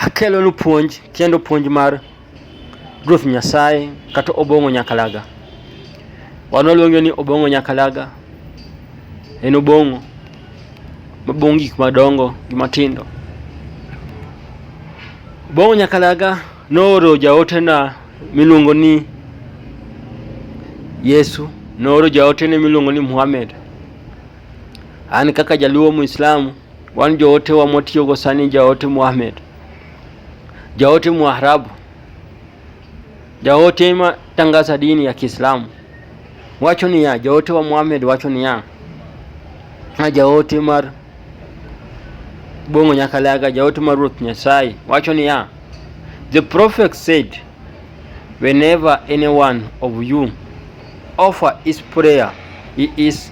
Akelonu puonj kendo puonj mar Ruoth Nyasaye kata Obong'o Nyakalaga. Wan waluonge ni Obong'o Nyakalaga. En Obong'o mabong'o gik madongo gi matindo. Obong'o Nyakalaga nooro jaotena miluongo ni Yesu, nooro jaotene miluongo ni Muhammad. An kaka jaluo Muislamu Wan joote wa mwatiyogo sani jaote Muhammad, jaote Mwarabu, jaote ma tangaza dini ya Kiislamu wacho niya, jaote wa Muhammad wacho niya, a jaote mar Bongo Nyakalaga, jaote mar Ruoth Nyasaye wacho niya, the prophet said whenever anyone of you offer his prayer he is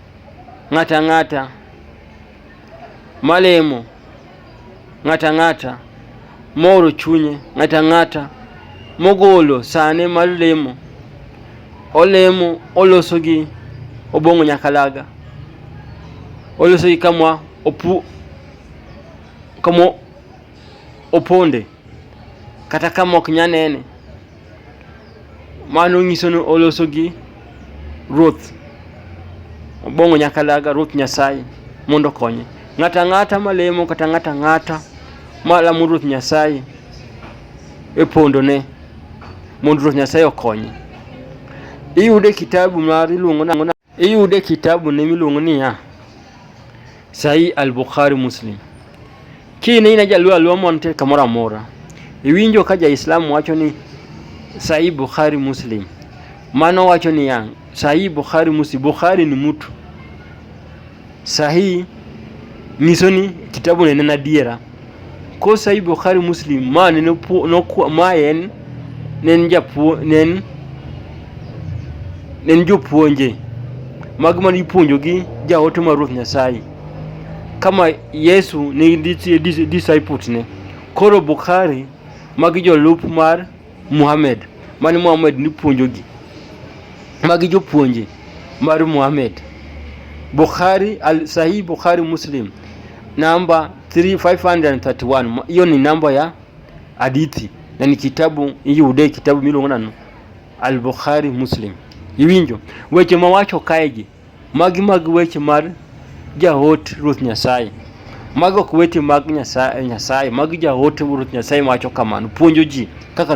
ng'ato ang'ata malemo, ng'ato ang'ata mooro chunye, ng'ato ang'ata mogolo sane mar lemo, olemo oloso gi obong'o nyakalaga, oloso gi kamwa opu kamo oponde kata kama ok nyanene Mano nyiso ni oloso gi Ruoth. Obong'o nyaka laga Ruoth Nyasaye mondo okonye. Ng'ata ng'ata malemo kata ng'ata ng'ata malamo Ruoth Nyasaye e pondone mondo Ruoth Nyasaye okonye. Iyude kitabu mar iluongo nang'o Iyude kitabu ne miluongo niya Sahi al-Bukhari Muslim. Kine ina jaluo aluo monte kamoro amora. Iwinjo ka ja-Islam wacho ni Sahi Bukhari Muslim. Mano wacho niya Sahi Bukhari Muslim. Bukhari ni mtu. Sahih nyiso ni kitabu ne en adiera. Ko Sahih Bukhari Muslim ma ne nokuo ma en ne en japuo ne en ne en jopuonje mag mane ipuonjogi jaote mar Ruoth Nyasaye kama Yesu ne disciples ne koro Bukhari magi jolup mar Muhammad. Mane Muhammad nipuonjogi. Magi jopuonje mar Muhammad. Bukhari, al Sahih Bukhari Muslim namba 3531 hiyo ni namba ya hadithi na ni kitabu iyude kitabu miluongo nano al Bukhari Muslim iwinjo weche mawacho kaegi Magi mag weche mar jaot Ruoth Nyasaye. Mago ok weche mag Nyasaye, Nyasaye. Magi jaote Ruoth Nyasaye wacho kamano, puonjo ji kaka